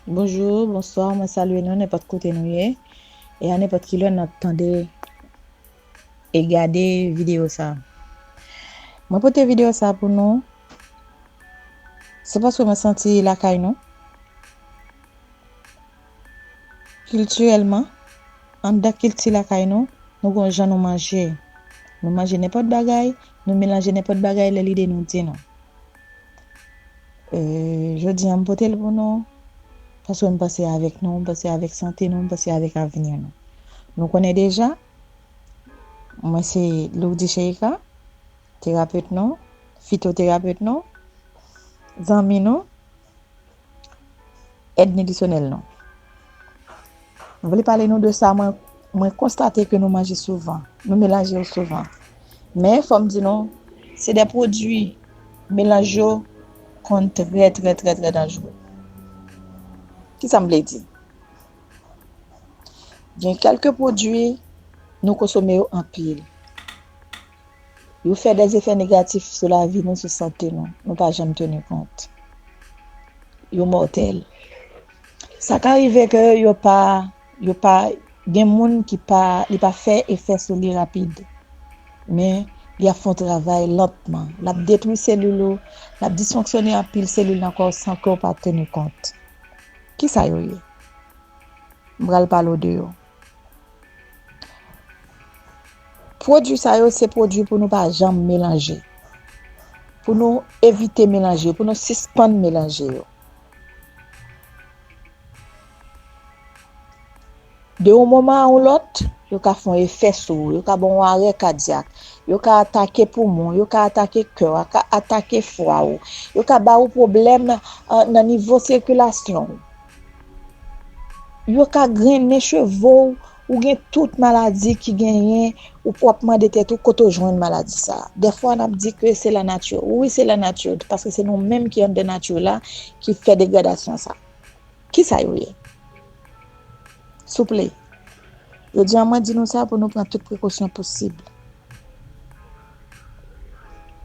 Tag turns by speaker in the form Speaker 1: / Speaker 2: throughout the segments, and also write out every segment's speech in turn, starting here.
Speaker 1: Bonjour, bonsoir, mwen salye nou nenpòt kote nou ye E a nenpòt ki lè nan tande e gade videyo sa Mwen pote videyo sa pou nou Se paske mwen santi lakay nou Kiltirèlman, anndan kilti lakay nou, nou gon jan nou manje. Nou manje nenpòt bagay, nou melanje nenpòt bagay lè lide nou di nou. Jodi an m pote l pou nou, paske m panse avèk nou, m panse avèk sante nou, m panse avèk avni nou. Nou konnen deja, mwen se Lourdy Cheika, terapet nou, fitoterapet nou, zanmi nou, Èd nitrisyonèl nou. Mwen vle pale nou de sa mwen konstate ke nou manje souvan. Nou melanje yo souvan. Men, fò m di nou, se de pwodui melanj yo konn trè trè trè trè danjre. Ki sa m vle di? Gen kèlke pwodui nou konsome yo anpil. Yo fè dè efè negatif sou lavi nou, sou sante nou, nou pa janm teni kont. Yo mòtèl. Sa ka rive ke yo pa, yo pa, gen moun ki pa, li pa fè efè sou li rapid. Men, li ap fè yon travay lantman. L ap detwi selil ou, l ap disfonksyone anpil selil nan kò w san ke w pa teni kont. Kisa yo ye? M pral pale w de yo. Pwodwi sa yo se pwodwi pou nou pa janm melanje. Pou nou evite melanje, pou nou sispann melanje yo. De yon moman a yon lòt, yo ka fon efè sou ou, yo ka bon ou arè kadyak, yo ka atake poumon, yo ka atake kè, yo ka atake fwa ou, yo ka ba ou pwoblèm nan nivo sikilasyon ou. Yo ka grennen cheve w, ou gen tout maladi ki genyen, ou pou ap mande tèt ou kote w jwenn maladi sa. Dèfwa n ap di ke se lanati, wi se lanati, paske se nou menm ki anndan nati la ki fè degradasyon sa. Kisa yo ye? Souple, jodi an mwen di nou sa pou nou pran tout prekosyon posib.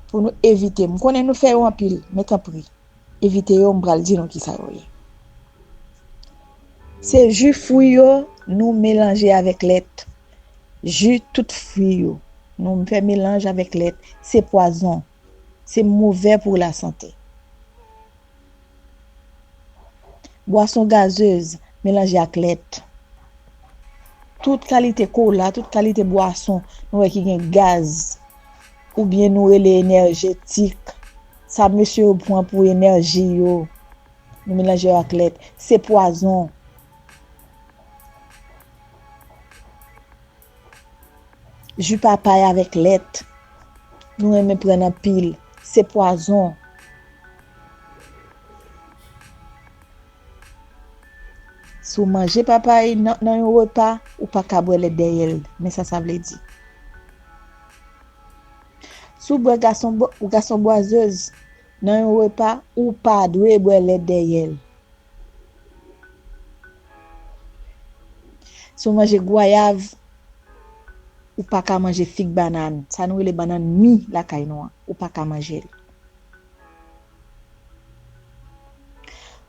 Speaker 1: Pou nou evite, m konnen nou fè yo anpil, men tanpri. Evite yo m pral di nou kisa yo ye. Se ju fwi yo nou melanje avèk lèt. Ju tout fwi yo nou fè melanj avèk lèt se pwazon. Se movè pou la sante. Bwason gazez melanje ak lèt. Tout kalite kola, tout kalite bwason nou wè ki gen gaz. Ou byen nou rele enèjetik. Sa mesye yo pwan pou enèji yo. Nou melanje yo ak lèt. Se pwazon. Ju papay avèk lèt. Nou renmen pran nan pil. Se pwazon. Si w manje papay nan yon repa, ou pa ka bwè lèt dèyè l. Men sa sa vle di. Si w bwè gason bwazèz nan yon repa, ou pa dwe bwè lèt dèyè l. Si w manje gwayav, ou pa ka manje fig banàn, sa nou rele banàn mi lakay nou an, ou pa ka manje l.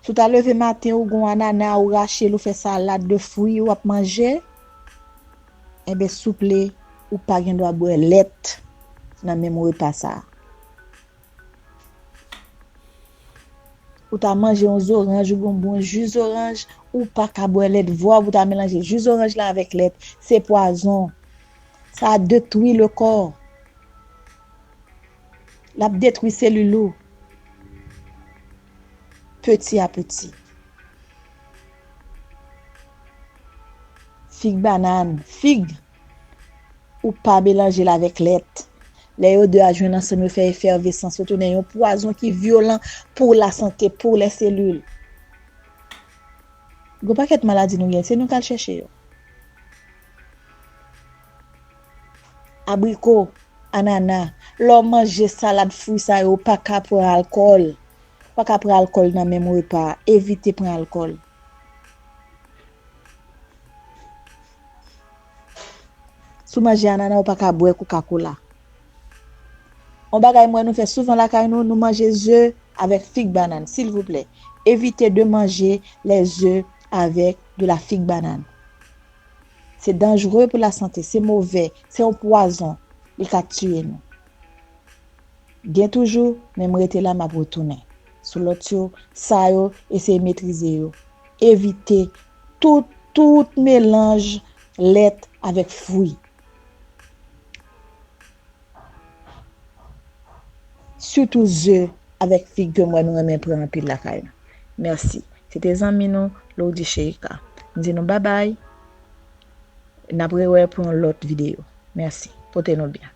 Speaker 1: Si w ta leve maten ou gon anana ou rache l ou fè salad de fwi ou ap manje enben souple ou pa gen dwa bwè lèt nan menm repa sa. Ou ta manje yon zoranj ou gon bon ji zoranj ou pa ka bwè lèt vwa pou ta melanje ji zoranj la avèk lèt se pwazon sa detwi le kò. Lap detwi selil ou peti a peti. Fig banane, fig, ou pa melanjel avèk lèt. Lè yo 2 a jwenn ansanm yo fè efèvesans yo tounen yon pwazon ki vyolan pou la sante, pou lè selil. Gon pakèt maladi nou gen, se nou kal chèche yo. Abriko, anana, lè w manje salad fwi sa yo ou pa ka pran alkòl, ou pa ka pran alkòl nan menm repa a, evite pran alkòl. Si w manje anana ou pa ka bwè koka kola. Yon bagay m wè nou fè souvan lakay nou, nou manje ze avèk fig banann, silvouplè, evite de manje lè ze avèk de la fig banann. Se danjre pou lasante, se move, se yon pwazon, li ka tiye nou. Gen toujou, men m rete la m ap retounen. Sou lòt yo, sa yo, eseye metrize yo. Evite tout, tout melanj lèt avèk fwi. Surtout ze avèk fig ke m wè nou renmen pran anpil lakay nou. Merci. Se te zanmi nou Lourdy Sheikah. M di nou babay. N ap rewè pou yon lòt videyo. Merci. Pote nou byen.